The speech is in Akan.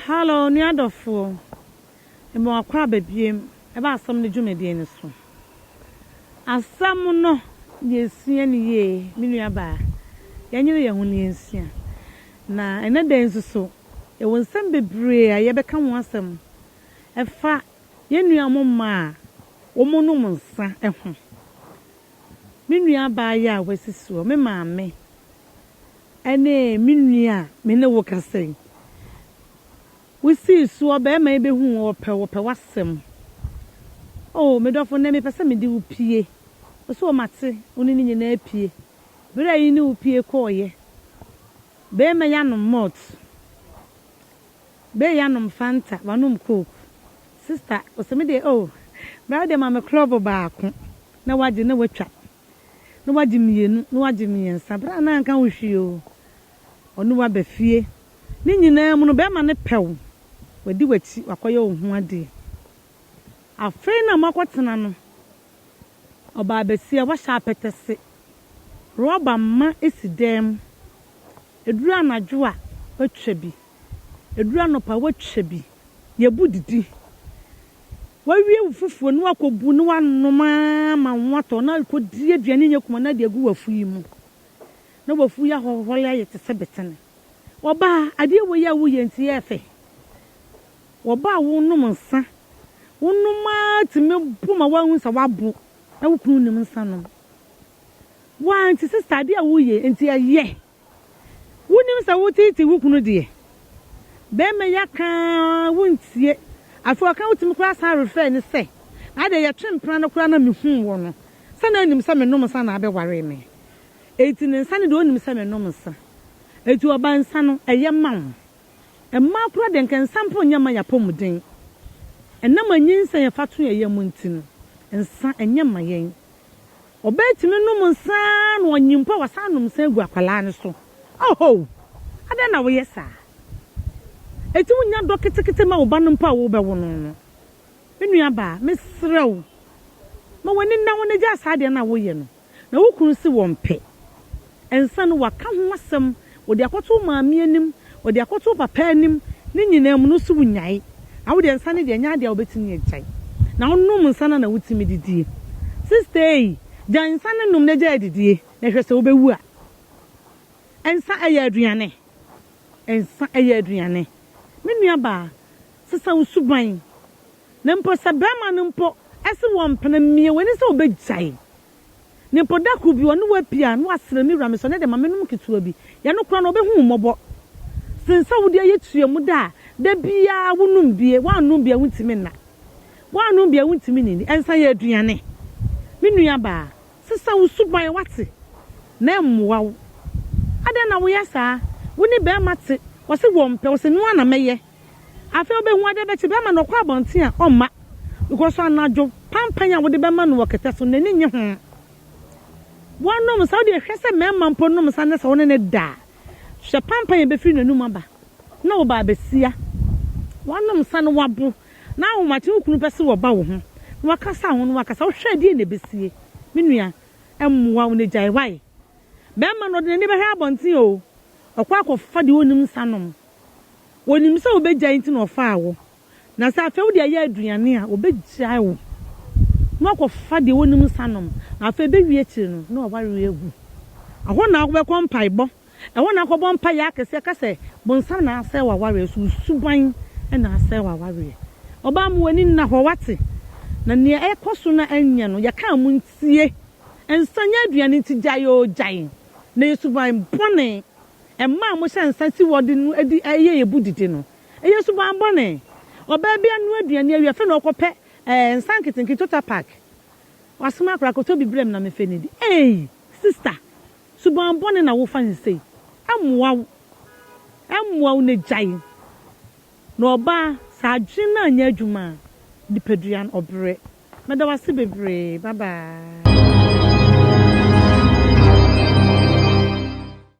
Hello, nua dɔfoɔ. Ɛmɛ wakɔ ababiem ɛba asɛm no dwumadie no so. Asɛm no yɛsua no yie, me nua baa. Yɛnyere yɛn ho na yɛnsua. Na ɛnɛ da yi nso so, yɛwɔ nsɛm bebree a yɛbɛka ho asɛm ɛfa Yɛn nuanom mmaa a wɔnom nsã ho. Me nua abaayewa a wasi soɔ, me maame, ne me nua a me ne wo kasa yi. Wosii soɔ, barima yi bɛhuu wo, ɔpɛ wo, ɔpɛ w'asɛm. Oh, me dɔfo, nnɛ mepɛ sɛ mede wo pue. Wo so mate, wo ne ne nyinaa pue. Berɛ a yi ne wo pue kɔeɛ, barima yi anom malt. Bae ya nom fanta wanom coke. Sister ose me deɛ oh bra deɛ ma me klɔbo baako na wagye na watwa na wagye mmienu na wagye mmiɛnsa bra na anka ho hwee oo ɔne wo aba fie ne nyinaa mu no bɛɛma no pɛ wo wadi wakyi wakɔyɛ wo ho adeɛ afei na moakɔ tena no ɔbaa bɛsia wahyɛ apɛtɛse rɔba mma si dan mu ɛduru anadwo a watwa bi. Ɛduru anɔpa a, woatwa bi. Yɛbu didi. Woawie wo fufuo na woakɔbu na woanom ara ma wo ho atɔ na wokɔdi aduane nyɛ kuma no ade agu w'afu yi mu. Na w'afu yi ahɔhɔre ayɛ te sɛ betene. Ɔbaa, adeɛ wei a woyɛ nti yɛ fɛ. Ɔbaa wonom nsa. Wonom ara tumi bo ma woahu sɛ woabo na wo kunu nnim nsa nom. Woaa nti sister adeɛ a woyɛ nti ɛyɛ. Wonim sɛ woteetee wo kunu deɛ? Bɛɛma yi aka ara wontie. Afei ɔka wotumi koraa san refrɛɛ no sɛ, na deɛ yɛtwe mpena no koraa na mehuu wɔ no sɛ na nim sɛ menom nsa na abɛwaree me. Enti ne nsa no deɛ ɔnim sɛ menom nsa. Enti ɔba nsa no ɛyɛ ma wo. Mmaa koraa deɛ nka nsa mpo nyɛ mma yɛ apɔmuden. Ɛnam anyinsɛn a yɛfa to yɛn yam nti no, nsa ɛnyɛ ma yɛn. Ɔbaa tumi nom nsa ara na ɔnye mpo a wasan anom nsa agu akwadaa no so. Ohow! Adɛn na woyɛ saa? Enti wunnya dɔ ketekete ma wo ba no mpo a worebɛwo no no? Me nuabaa, mesrɛ wo, ma w'ani nna hɔ na gyaa saa adeɛ no a woyɛ no. Na wo kunu se wɔmpɛ. Nsa no, wɔaka ho asɛm, wɔde akɔto wo maame anim, wɔde akɔto wo papa anim, ne nyinaa mu no, wo se wonyae. Na wodeɛ nsa no deɛ ɛnyɛ adeɛ a wobɛtumi agyae. Na wonom nsa no a na wotumi didie. Sista ei, gyae nsa no nom na gyae adidie, na hwɛ sɛ wobɛwu a. Nsa ɛyɛ aduane. Nsa ɛyɛ aduane. Me nuabaa, sesa wo suban. Na mpo sɛ barima no mpo se wɔ mpena, mia w'ani sɛ wobɛgyae. Me mpo da koro bi ɔne wo apue a, na wasrɛ me wura mesɔ ne de ma me nom ketewa bi. Yɛ no koraa no ɔbɛhu wo mmɔbɔ sen sɛ wode ayɛ tua mu da a da biara wo nom bie, woannom bie a wontumi nna, woannom bie a wontumi nnidi, ɛnsa yɛ aduane. Me nua baa, sesa wo suban wate, na ɛmmoa wo. Adɛn na woyɛ saa? Wo ne bɛɛma te, ɔse wɔmpɛ, ɔse noa na mɛyɛ. Afei obehu ade bɛkye bi ama no ɔkɔ abɔnten a ɔmma because anadwo panpan a wode bɛma no wɔ kɛtɛ so no n'ani nnye ho. Wɔnom nsa, wodeɛ hwɛ sɛ mmarima mpo nom nsa nnɛ sɛ wo ne no da a hwɛ panpan a ɛbɛfiri n'anum aba na wo baa bɛsia. Woanom nsa na woabo na ahomakye wo kunu pɛ sɛ ɔba wo ho na wakasa ho na wakasa wohwɛ a deɛ na ɛbɛsie? Me nua ɛmmoa wo na gyae why? Bɛrima no ɔde n'ani bɛhwɛ abɔnten oo ɔkɔ akɔfa deɛ ɔnnim nsa nom. Onim sɛ wobɛgyae nti na ɔfaa wo. Na sɛ afei wode ayɛ aduane a, ɔbɛgyae wo na wakɔfa deɛ ɔnim nsa nom. Na afei ɛbɛwie akyire no na wawareɛ agu. Ɛhɔ na wobɛkɔ mpaebɔ. Ɛhɔ na akɔbɔ mpaeɛ akɛseɛ ka sɛ, bonsam na asɛe w'awareɛ so, wo suban na asɛe w'awareɛ. Ɔbaa ma w'ani nna hɔ, woate? Na nea ɛrekɔ so no ɛnyɛ no, yɛkaa mo ntie. Nsa nyɛ aduane nti gyae oo, gyae. Na ɛyɛ suban bɔne. Mmaa a wɔhyɛ nsa si wɔde no adi yɛ yɛn bu didi no yɛ suban bɔne. Ɔbaa bi anoa aduane awie afei na ɔkɔpɛ nsa nketenkete total pack. Wasoma akwadaa akɔtɔ bi brɛ me na memfa nnidi. Ei! Sista, suban bɔne na wofa no sei. Ɛmmoa wo. Ɛmmoa wo na gyae. Na ɔbaa, sɛ adwene no anyɛ adwuma a, nipadua no, ɔbrɛ. Meda wo ase bebree. Bye bye.